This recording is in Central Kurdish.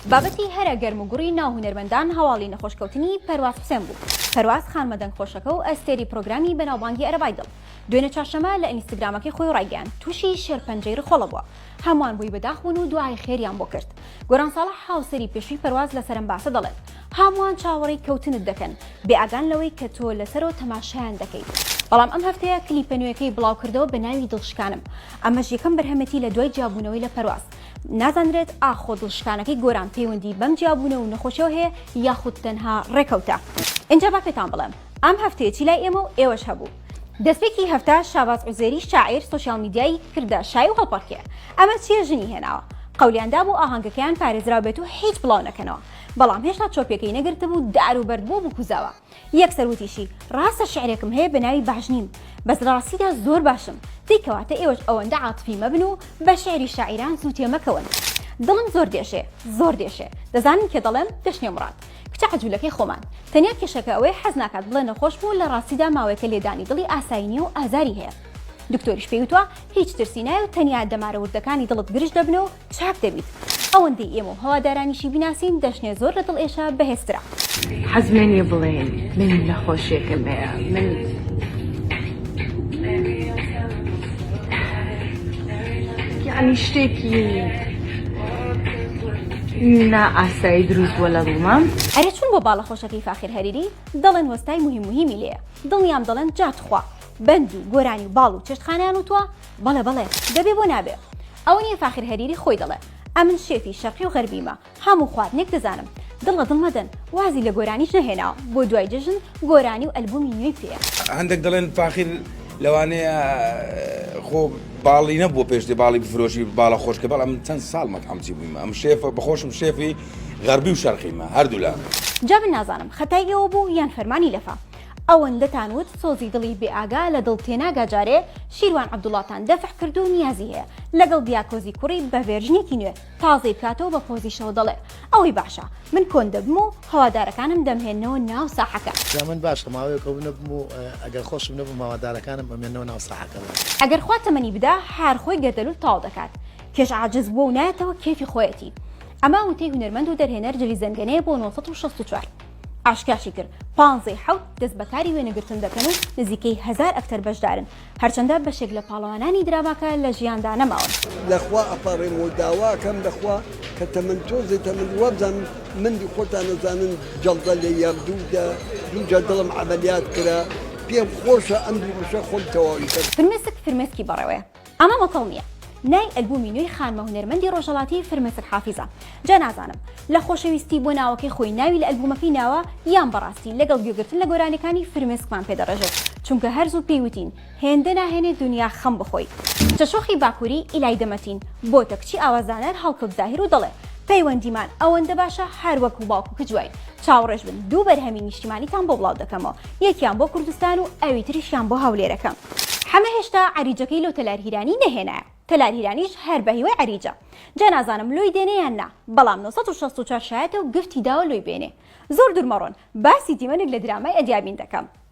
بابەتی هەرە گەرم و گوڕی ناو هونەرمەندان هەواڵی نەخۆشکەوتنی پەرواز حوسێن بوو، پەرواز خانمە دەنگخۆشەکە و ئەستێری پرۆگرامی بەناوبانگی ئەرەبای دڵ، دوێنێ چوارشەممە لە ئینستگرامەکەی خۆی ڕایگەیاند تووشی شێرپەنجەی ڕخۆڵە بووە، هەمووان بۆی بەداخ بوون و دوعای خێریان بۆ کرد. گۆران ساڵح هاوسەری پێشووی پەرواز لەسەر ئەم باسە دەڵێت هەمووان چاوەڕێی کەوتنت دەکەن، بێئاگان لەوەی کە تۆ لەسەرۆ تەماشایان دەکەیت، بەڵام ئەم هەفتەیە کلیپە نوێکەی بڵاوکردەوە بەناوی دڵشکانم، ئەمەش یەکەم بەرهەمێتی لە دوای جیابوونەوەی لە پەرواز. نازانرێت ئاخۆ دڵشکانەکەی گۆران پەیوەندی بەم جیابوونە و نەخۆشیەوە هەیە یاخود تەنها ڕێکەوتە؟ ئینجا با پێتان بڵێم ئەم هەفتەیەچی لای ئێمە و ئێوەش هەبوو. دەستپێکی هەفتە شاباز عوزێری شاعیر سۆشیال میدیای کردە شای و هەڵپەڕکێ ئەمە چیە ژنی هێناوە قەولیان دابوو ئاهەنگەکەیان پارێزراو بێت و هیچ بڵاو نەکەنەوە بەڵام هێشتا چۆپیەکەی نەگرتبوو دار و بەرد بۆ بکوزاوە یەکسەر وتیشی، ڕاستە شیعرێکم هەیە بە ناوی باش نیم، بەس لە ڕاستیدا زۆر باشم، دەی کەواتە ئێوەش ئەوەندە عاتفی مەبن و بە شیعری شاعیران زوو تێمەکەون. دڵم زۆر دێشێ، زۆر دێشێ، دەزانن کێ دەڵێم، دەشنێ مڕاد، کچە عەجولەکەی خۆمان، تەنیا کێشەکە ئەوەیە حەز ناکات بڵێ نەخۆشم و لە ڕاستیدا ماوەیەکە لێدانی دڵی ئاسایی نیە و ئازاری هەیە، دکتۆریش پێی وتوە هیچ ترسی نایە و تەنیا دەمارە وردەکانی دڵت گرژ دەبنەوە و چاک دەبیت ئەوەندەی ئێمە و هەوادارانیشی بیناسین دەشنێ زۆر لە دڵ ئێشە بەهێز ترە. حەز لێنیە بڵێین من نەخۆشیەکم هەیە یانی شتێکی نا ئاسایی دروست بوە لە دڵمام. ئەرێ چون بۆ باڵە خۆشەکەی فاخیر هەریری دەڵێن وەستای موهیم موهیمی لێیە دڵنیام دەڵێن جا تخوا بەند و گۆرانی و باڵ و چێشتخانەیان وتوە بەڵێ بەڵێ دەبێ بۆ نابێ. ئەوە نیە فاخیر هەریری خۆی دەڵێ ئەمن شێفی شەرقی و غەربیمە هەموو خواردنێک دەزانم دڵ لە دڵ مەدەن وازی لە گۆرانیش نەهێناوە بۆ دوای جەژن گۆرانی و ئەلبومی نوێی پێیە. هەندێک دەڵێن فاخیر لەوانەیە خۆ باڵی نەبووە پێش دێ باڵی بفرۆشی باڵە خۆشکە بەڵام من چەند ساڵ مەتعەمچی بوویمە ئەم شێفە بەخۆشم شێفی غەربی و شەرقیمە هەردوولا. جا من نازانم خەتای ئێوە بوو یان فەرمانی لەفا. ئەوەندەتان وت سۆزی دڵی بێ ئاگا لە دڵ تێناگا جارێ شیروان عەبدوڵاتان دەفع کرد و نیازی هەیە لەگەڵ دیاکۆزی کوڕی بە ڤێرژنێکی نوێ تازەی بکاتەوە بە پۆزیشەوە دەڵێ ئەوەی باشە من کۆن دەبم و هەوادارەکانم دەمهێننەوە ناو ساحەکە. جا من باشە ماوەیەک کۆن نەبم و ئەگەر خۆشم نەبم هەوادارەکانم ئەمێننەوە ناو ساحەکە. ئەگەر خوا تەمەنی بدا هەر خۆی گەردەلول تاو دەکات کێش عاجز بووە و نایەتەوە کێفی خۆیەتی ئەمە وتەی هونەرمەند و دەرهێنەر جلی زەنگەنەیە بۆ نۆ سەد و شەست و چوار. ئاشکراشی کرد پانزەی حەوت دەست بەکاری وێنەگرتن دەکەن و نزیکەی هەزار ئەکتەر بەشدارن هەرچەندە بەشێک لە پاڵەوانانی دراماکە لە ژیاندا نەماون. لەخوا ئەپاڕێم و داواکەم لەخوا کە تەمەن تۆزێ تەمەن وابزانم مندی خۆتان ئەزانن جەڵدە لێ یام دوو دە دوو جار دڵم عەمەلیات کرا پێم خۆشە ئەم دوو بەشە خۆم تەواوی کەم. فرمێسک فرمێسکی بەڕێوەیە. ئەمە مەتەڵ نیە نای ئەلبومی نوێی خانمە هونەرمەندی ڕۆژەڵاتی فرمێسک حافیزە جا نازانم لە خۆشەویستی بۆ ناوەکەی خۆی ناوی لە ئەلبومەکەی ناوە یان بەڕاستی لەگەڵ گوێگرتن لە گۆرانیەکانی فرمێسکمان پێ دەڕێژێت چونکە هەرزوو پێی وتین هێندە ناهێنێ دونیا خەم بخۆی چە شۆخی باکوری ئیلای دەمەتین بۆتە کچی ئاوازدانەر هەڵکەوت زاهیر و دەڵێ پەیوەندیمان ئەوەندە باشە هەر وەک باوک و کچ واین چاوڕێش بن دوو بەرهەمی نیشتیمانیتان بۆ بڵاو دەکەمەوە، یەکیان بۆ کوردستان و ئەوی تریشیان بۆ هەولێرەکەم. حەمە هێشتا عەریجەکەی لۆ تەلار هیرانی نەهێنایە، تەلار هیرانیش هەر بە هیوای عەریجە. جا نازانم لۆی دێنێ یان نا، بەڵام نۆ سەد و شەست و چوار شایەتە و گفتی داوە لۆی بێنێ. زۆر دوور مەڕۆن، باسی دیمەنێک لە درامای ئەدیابین دەکەم.